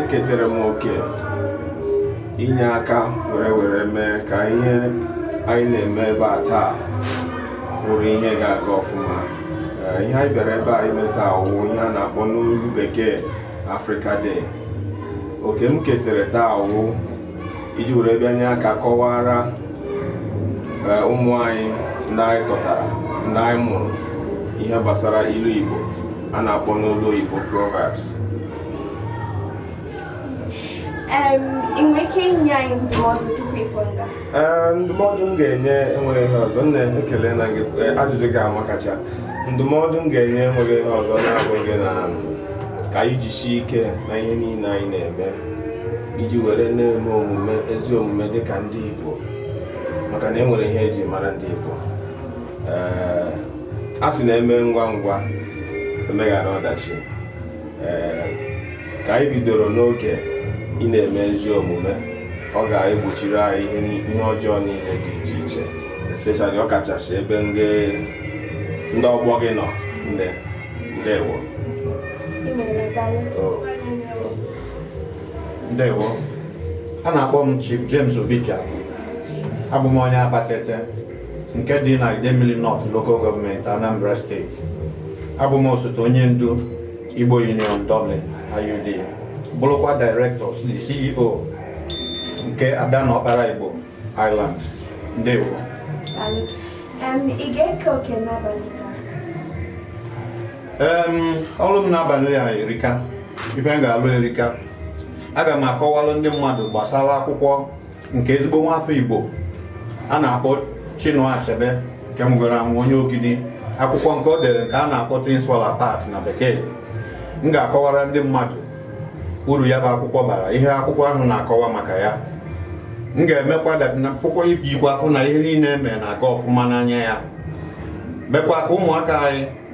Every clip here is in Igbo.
eketere m oke inye aka were were mee ka ihe anyị na-eme ebe a taa bụrụ ihe ga-aga ọfụma eh, ihe anyị bịara ebe a ime taa wụ ihe a na-akpọ n'olu bekee Africa Day oke m ketere taa wụ iji were bịa nye aka kọwara eh, ụmụ anyị ndị anyị tọtara ndị anyị mụrụ ihe gbasara ilu Igbo a na-akpọ n'olu oyibo proverbs ị nwere ike inye anyị ndụmọdụ tupu ị pụọ nga ndụmọdụ m ga-enye enweghị ihe ọzọ nne ekele na gị eh, ajụjụ gị amakacha ndụmọdụ m ga-enye enweghị ihe ọzọ na-abụghị na ka anyị jisie ike na ihe niile anyị na-eme iji were na-eme omume ezi omume dị ka ndị Igbo maka na e nwere ihe e ji mara ndị Igbo a sị na e mee ngwa ngwa e meghara ọdachi ka anyị bidoro n'oge ị na-eme ezi omume ọ ga-egbochiri anyị ihe ọjọọ niile dị iche iche especially ọ kachasị ebe ndị ọgbọ gị nọ nne ndewo ndewo a na-akpọ m Chief James Obicha abụ m onye Abatete nke dị na Idemili North Local Government Anambra State abụ m osote onye ndu Igbo Union Dublin IUD bụrụkwa Director the CEO nke Ada na Ọkpara Igbo Ireland ndewo ọlụ m n'abalị a erika ife m ga-alụ erika aga m akọwalụ ndị mmadụ gbasara akwụkwọ nke ezigbo nwafọ Igbo a na-akpọ Chinua Achebe nke nwụgoro anwụ onye Ogidi akwụkwọ nke o dere nke a na-akpọ Things Fall Apart na bekee m ga-akọwara ndị mmadụ uru ya bụ akwụkwọ bara ihe akwụkwọ ahụ na-akọwa maka ya m ga-emekwa akwụkwọ ijikwa afụ na ihe niile eme na-aga ọfụma n'anya ya mekwa ka ụmụaka anyị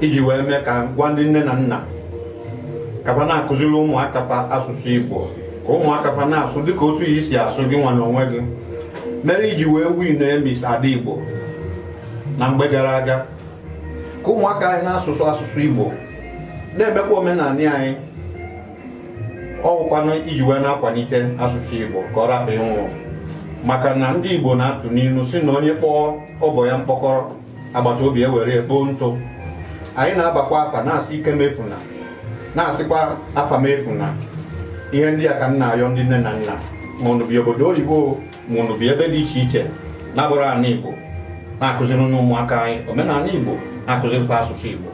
iji wee mee ka gwa ndị nne na nna ka pa na-akụziri ụmụaka pa asụsụ Igbo ka ụmụaka pa na-asụ dịka otu i si asụ gị nwa n'onwe gị mere iji wee win Miss Ada Igbo na mgbe gara aga ka ụmụaka anyị na-asụsụ asụsụ Igbo na-emekwa omenala anyị ọwụkwanụ iji wee na-akwalite asụsụ Igbo ka ọ rapụ ịnwụ maka na ndị Igbo na-atụ n'ilu si na onye kpọọ ọba ya mkpọkọrọ agbata obi ewere ya kpoo ntụ anyị na-abakwa afa na-asị ike m efuna na-asịkwa afa m efuna ihe ndị a ka m na-ayọ ndị nne na nna ma unu bi obodo oyibo ma unu bi ebe dị iche iche na-abụrọ ala Igbo na-akụziri ụmụaka anyị omenala Igbo na-akụzirikwa asụsụ Igbo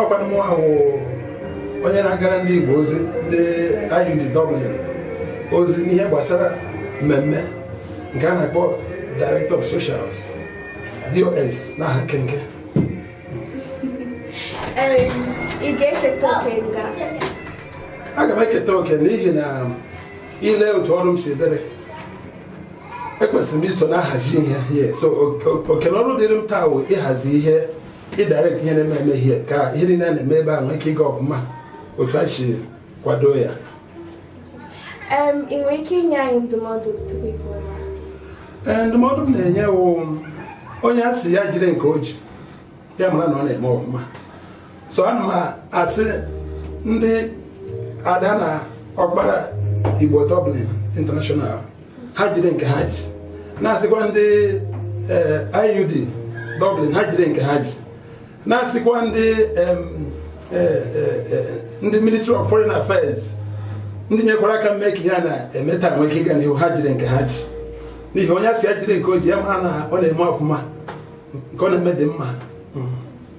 ọkwa mụ wụ onye na-agara ndị Igbo ozi ndị IUD Dublin ozi n'ihe gbasara mmemme nke a na-akpọ Director of Socials DOS n'aha nkenke aga m eketa oke n'ihi na i lee otu ọrụ m si dịrị ekwesịrị m iso na-ahazi ihe so oke na ọrụ dịrị m taa wụ ịhazi ihe ịdirect ihe na-eme eme ihe ka ihe niile a na-eme ebe a nwee ike ịga ọfụma otu a si kwado ya ị nwere ike inye anyị ndụmọdụ tupu ị pụọ ee ndụmọdụ m na-enye wụ onye a sị ya jide nke o ji ya mara na ọ na-eme ọfụma so ana m asị ndị ada na ọkpara igbo dublin international ha jide nke ha ji na-asịkwa ndị eh, IUD Dublin ha jide nke ha ji na-asịkwa ndị eh, eh, ndị Ministry of Foreign Affairs ndị nyekwara aka mee ka ihe a na-eme taa nwee ike ịga n'ihu ha jide nke ha ji n'ihi onye a sị ya jide nke o ji ya mara na ọ na-eme ọfụma nke ọ na-eme dị mma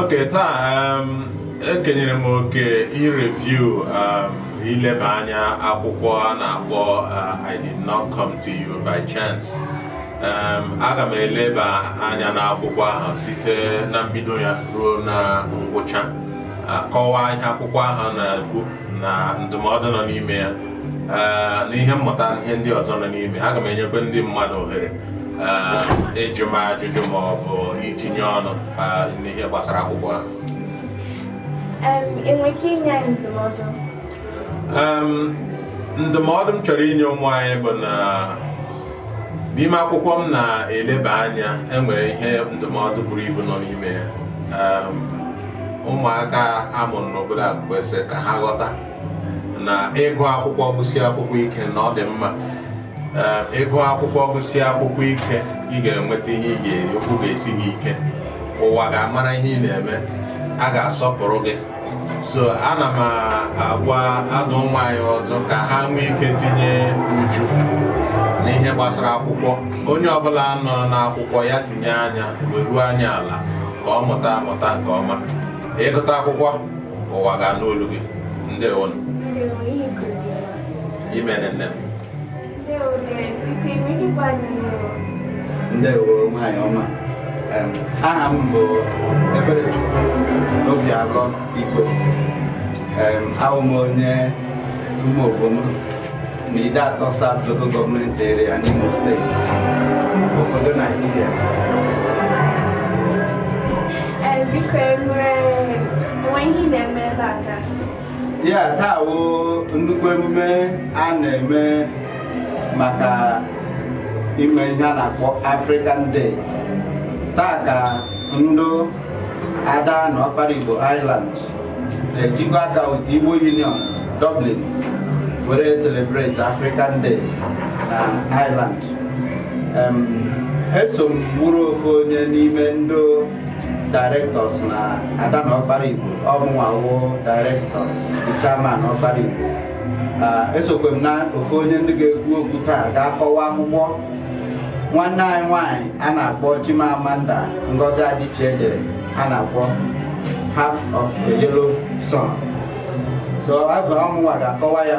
okay taa ekenyere m oke ireview ileba anya akwụkwọ a na-akpọ uh, I did not come to you by chance aga m eleba anya n'akwụkwọ ahụ site na mbido ya ruo na ngwụcha kọwaa ihe akwụkwọ ahụ na-ekwu na ndụmọdụ nọ n'ime ya eh, na ihe mmụta na ihe ndị ọzọ nọ n'ime aga m enyekwa ndị mmadụ ohere eh, ịjụ m ajụjụ ma ọ bụ itinye ọnụ eh, n'ihe gbasara akwụkwọ ahụ ị nwere ike inye anyị ndụmọdụ ndụmọdụ m chọrọ inye ụmụ anyị bụ na n'ime akwụkwọ m na-eleba anya enwere ihe ndụmọdụ buru ibu nọ n'ime ya ehm, ụmụaka a mụrụ n'obodo a kwesịrị ka ha ghọta na ịgụ akwụkwọ gụsie akwụkwọ ike na ọ dị mma ehm, ị gụọ akwụkwọ gụsie akwụkwọ ike ị ga-enweta ihe ị ga-eri ụkwụ ga-esi gị ike ụwa ga-amara ihe ị na-eme a ga-asọpụrụ gị so ana m agwa adụ ụmụ anyị ọdụ ka ha nwee ike tinye uchu n'ihe gbasara akwụkwọ onye ọbụla nọ n'akwụkwọ ya tinye anya weruo anya ala ka ọ mụta amụta nke ọma ị gụta akwụkwọ ụwa ga-anụ olu gị ndewo nụ imeela nne m ndewo nwanyị ọma aha m bụ Ebere Obialọ Igbo awụ m onye Umuobom na Ideato South Local Government Area n'Imo State obodo Naijiria biko enwere enwe ihe na-eme ebe a taa ya taa wụ nnukwu emume a na-eme maka ime ihe a na-akpọ African Day taa ka ndụ ada na ọkpara Igbo Ireland na-ejikọ aka with Igbo Union Dublin were celebrate African Day na Ireland eso m bụrụ ofu onye n'ime ndị directors na ada na ọkpara igbo ọmụnwa wụ director chairman ọkpara igbo esokwe m na ofu onye ndị ga-ekwu okwu taa ga-akọwa akwụkwọ nwanne anyị nwanyị a na-akpọ Chimamanda Ngozi Adichie dere a na-akpọ Half of a Yellow Sun so abụ ọmụnwa ga-akọwa ya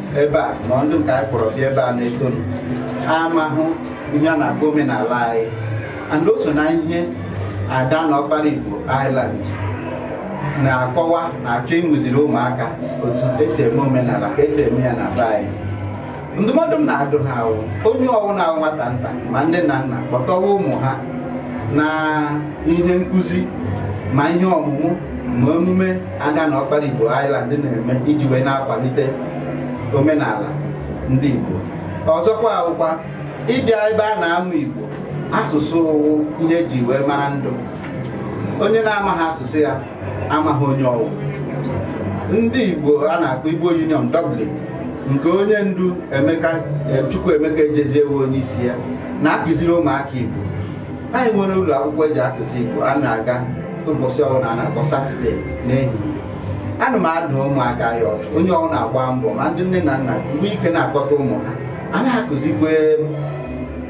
ebe a ma ndụ nke anyị kpọrọ bịa ebe a na-eto ha amahụ ihe a na-akpọ omenala anyị and o so na ihe ada na ọkpara igbo Ireland na-akọwa na-achọ ịmụziri ụmụaka otu esi eme omenala ka esi eme ya n'ala anyị ndụmọdụ m na-adụ ha wụ onye ọwụna wụ nwata nta ma nne na nna kpọtọwa ụmụ ha na ihe nkụzi ma ihe ọmụmụ ma emume ada na ọkpara Igbo Ireland na-eme iji wee na-akwalite omenala ndị Igbo ọzọkwa wụkwa ịbịa ebe a na-amụ Igbo asụsụ wụ ihe eji wee mara ndụ onye na-amaghị asụsụ ya amaghị onye ọwụ ndị Igbo a na-akpọ Igbo Union Dublin nke onye ndu Chukwuemeka Ejezie wụ onye isi ya na-akụziri ụmụaka Igbo anyị nwere ụlọ akwụkwọ eji akụzi Igbo a na-aga ụbọchị ọbụla a na-akpọ satọde n'ehihie ana m adụ ụmụaka ya ọdụ onye ọwụna gbaa mbọ ma ndị nne na nna mgbe ike na-akpọta ụmụ ha a na-akụzikwe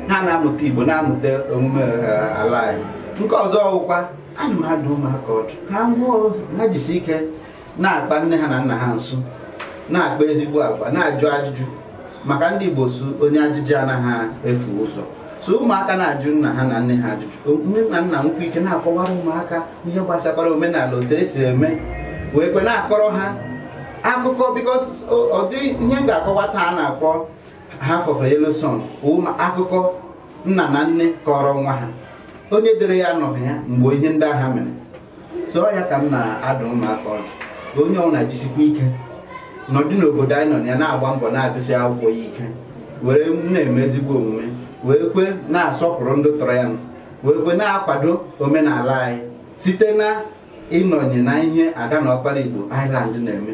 ha na-amụta Igbo na-amụta omume eh, ala anyị nke ọzọ ọwụkwa ana m adụ ụmụaka ọdụ hanwa ha jisi ike na-akpa nne ha na nna ha nso na-akpa ezigbo agwa na-ajụ ajụjụ maka ndị Igbo sị onye ajụjụ anaghị efu ụzọ so ụmụaka na-ajụ nna ha na nne ha ajụjụ nne na nna nwekwa ike na-akọwara ụmụaka ihe gbasakwara omenala otu esi eme nwee ike na-akọrọ ha akụkọ because ụdị ihe m ga-akọwa taa a na-akpọ Half of a Yellow Sun akụkọ nna na nne kọrọ nwa ha onye dere ya anọghị ya mgbe ihe ndị ahụ mere so ya ka m na-adụ ụmụaka ọdụ ka onye ọbụla jisikwa ike nọdụ n'obodo anyị nọ na ya na-agba mbọ na-agụsị akwụkwọ ya ike were na-eme ezigbo omume wee kwe na-asọpụrụ ndị tọrọ ya wee kwe na-akwado omenala anyị site na ịnọnye na ihe ada na ọkpara igbo Ireland na-eme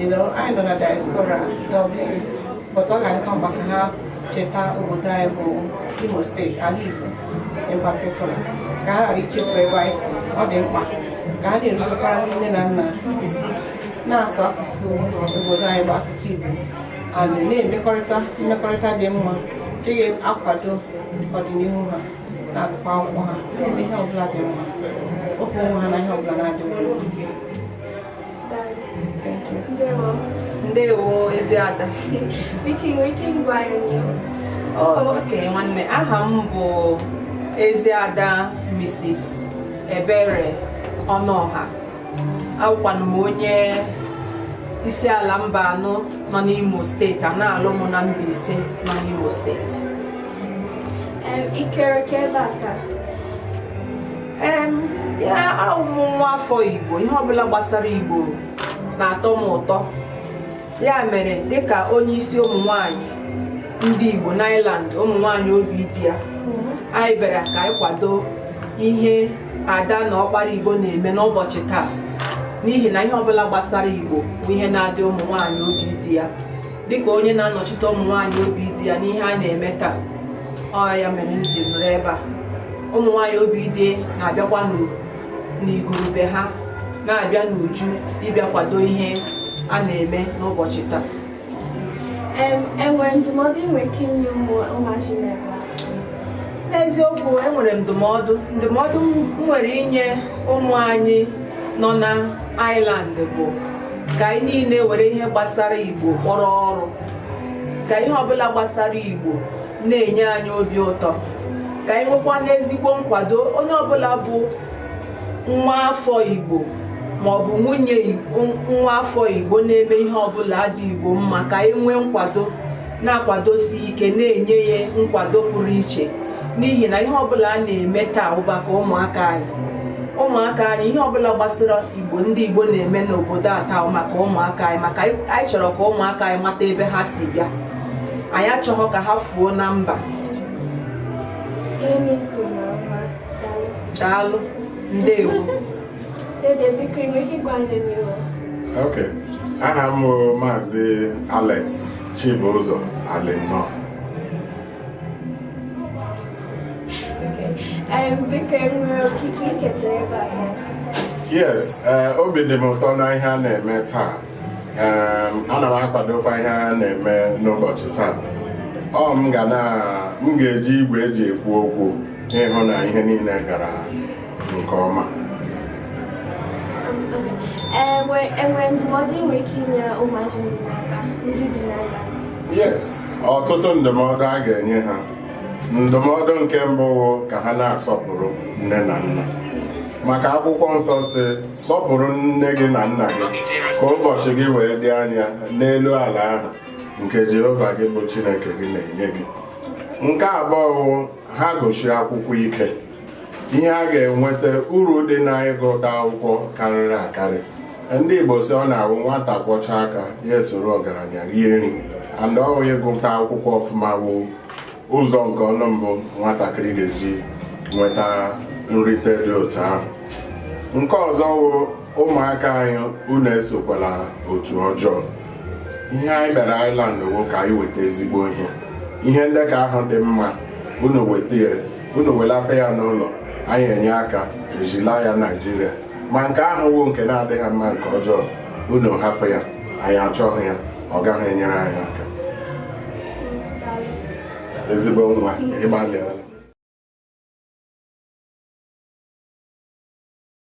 You know, anyị nọ na diaspora Dublin, but ọ ga-adịkwa mkpa ka ha cheta obodo anyị bụ Imo steeti, ala Igbo in particular, ka ha ghara ichefu ebe anyị si. Ọ dị mkpa ka ha na-erubekwara ndị nne na nna isi na-asụ asụsụ obodo anyị bụ asụsụ Igbo and na-emekọrịta mmekọrịta dị mma nke ga-akwado ọdịnihu ha na-agụkwa akwụkwọ ha na-eme ihe ọbụla dị mma ofe onwe ha na ihe ọbụla na-adị mma ndewo ezi ada biko nwere ike ịgwa anyị okay nwanne aha m bụ ezi ada Mrs. Ebere Ọnụọha awụkwanụ m onye Isiala Mbanọ nọ n'Imo steeti a na-alụ m na Mbaise nọ n'Imo steeti ikere ka ebe a taa yeah awụ m nwa afọ igbo ihe ọbụla gbasara igbo na-atọ m ụtọ ya mere dịka onye isi ụmụ nwanyị ndị igbo n'Ireland ụmụ nwanyị obi di ya anyị bịara ka anyị kwado ihe ada na ọkpara igbo na-eme n'ụbọchị taa n'ihi na ihe ọbụla gbasara igbo bụ ihe na-adị ụmụ nwanyị obi di ya dịka onye na-anọchite ụmụ nwaanyị obi di ya n'ihe a na-eme taa ọ ya mere m ji nọrọ ebe a ụmụ nwaanyị obi di na-abịakwa n'igurube ha na-abịa n'uju ịbịa kwado ihe a na-eme n'ụbọchị taa enwere ndụmọdụ ị nwere ike inye ụmụazị n'ebe a n'eziokwu enwere ndụmọdụ ndụmọdụ m nwere inye ụmụ anyị nọ na Ireland bụ ka anyị niile were ihe gbasara igbo kpọrọ ọrụ ka ihe ọbụla gbasara igbo na-enye anyị obi ụtọ ka anyị nwekwanụ ezigbo nkwado onye ọbụla bụ nwa afọ igbo maọbụ nwunye nwa afọ igbo na-eme ihe ọbụla dị igbo mma ka anyị nwee nkwado na-akwadosi ike na-enye ya nkwado pụrụ iche n'ihi na ihe ọbụla a na-eme taa wụ maka ụmụaka anyị ụmụaka anyị ihe ọbụla gbasara igbo ndị igbo na-eme n'obodo a taa wụ maka ụmụaka anyị maka anyị chọrọ ka ụmụaka anyị mata ebe ha si bịa anyị achọghọ ka ha fuo na mba daalụ ndewo ok aha m wụ maazị Alex Chibụzọ Alinọ biko enwere okike i keta ebe a yes eh, obi dị m ụtọ na ihe a na-eme taa ana m akwadokwa ihe a na-eme n'ụbọchị taa ọ m ga-eji igwe eji ekwu okwu ịhụ na ihe niile gara nke ọma enwere ndụmọdụ nwere ike inye ụmụazị ndị bi n'Ireland yes ọtụtụ ndụmọdụ a ga-enye ha ndụmọdụ nke mbụ wụ ka ha na-asọpụrụ nne na nna maka akwụkwọ nsọ sị sọpụrụ nne gị na nna gị ka ụbọchị gị wee dị anya n'elu ala ahụ nke Jehova gị bụ Chineke gị na-enye gị nke abụọ wụ ha gụchie akwụkwọ ike ihe a ga-enweta uru dị na ịgụta akwụkwọ karịrị akarị ndị Igbo sị ọ na-awụ nwata kwọchaa aka ya esoro ọgaranya rie nri and ọ wụ ịgụta akwụkwọ ọfụma wụ ụzọ nke ọnụ mbụ nwatakịrị ga-eji nweta nrite dị otu ahụ nke ọzọ wụ ụmụaka anyị unu esokwala otu ọjọọ ihe anyị bịara Ireland wụ ka anyị weta ezigbo ihe ihe ndị ka ahụ dị mma unu weta ya unu welata ya n'ụlọ anyị enye aka ejila ya Naijiria ma nke ahụ wụ nke na-adịghị mma nke ọjọọ unu hapụ ya anyị achọghị ya ọ gaghị enyere anyị aka ezigbo nwa ị gbalịala